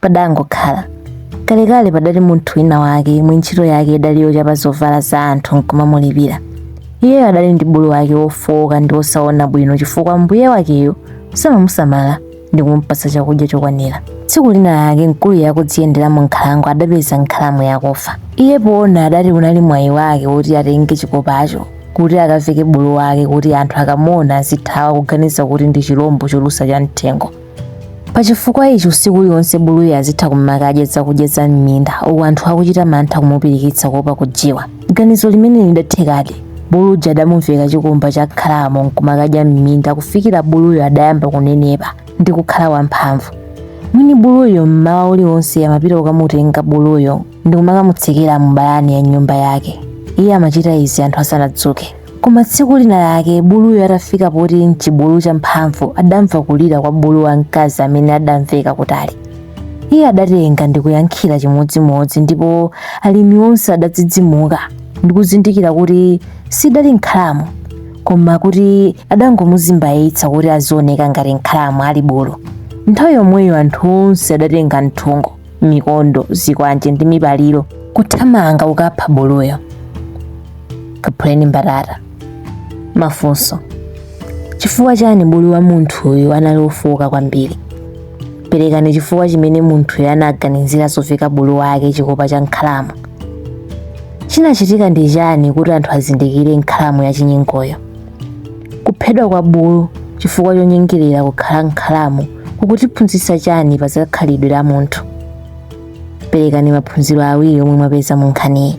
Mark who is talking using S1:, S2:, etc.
S1: padangokhala kalekale padali munthu wina wake yemwe ntchito yake idali yochapa zovala za anthu nkumamulipira iyeyo adali ndi bulu wake wofowoka ndi wosaona bwino chifukwa mbuye wakeyo samamusamala ndi kumpatsa chakudya chokwanira tsiku lina lake mkuluyu akudziyendera mu nkhalango adapeza nkhalamu yakufa iye poona adati unali mwayi wake woti atenge chikopacho kuti akaveke bulu wake kuti anthu akamuona azithawa kuganiza kuti ndi chilombo cholusa cha mthengo pa chifukwa ichi usiku uliwonse buluyo azitha kumakadya zakudya za m'minda uku anthu akuchita mantha kumupirikitsa kuopa kujiwa ganizo limeneli lidathekadi bulu uja adamuveka chikumba cha nkhalamu nkumakadya m'minda kufikira buluyo adayamba kunenepa ndi kukhala wamphamvu mwini buluyo mmawa uliwonse amapita kukamutenga buluyo ndi kumakamutsekera mu balani ya nyumba yake iye amachita izi anthu asanadzuke Koma tsiku lina lake buluyo atafika poti n'chibulu champhamvu adamva kulira kwa bulu wamkazi amene adamveka kutali. Iye adatenga ndi kuyankhira chimodzimodzi ndipo alimi onse adadzidzimuka ndi kuzindikira kuti sidali nkhalamu koma kuti adangomuzimbayitsa kuti azioneka ngati nkhalamu ali bulu. Nthawi yomweyo anthu onse adatenga nthungo mikondo zikwanje ndi mipaliro kuthamanga kukapha buluyo kaphuleni mbatata mafunso chifukwa chani bulu wa munthuyu anali wofowoka kwambiri perekani chifukwa chimene munthuyu anaganizira zoveka bulu wake chikopa cha nkhalamu chinachitika ndi chani kuti anthu azindikire nkhalamu ya chinyengoyo Kuphedwa kwa bulu chifukwa chonyengerera kukhala nkhalamu kukutiphunzitsa chani pa zakhalidwe la munthu? Perekani maphunziro awiri omwe mwapeza mu nkhaniyi.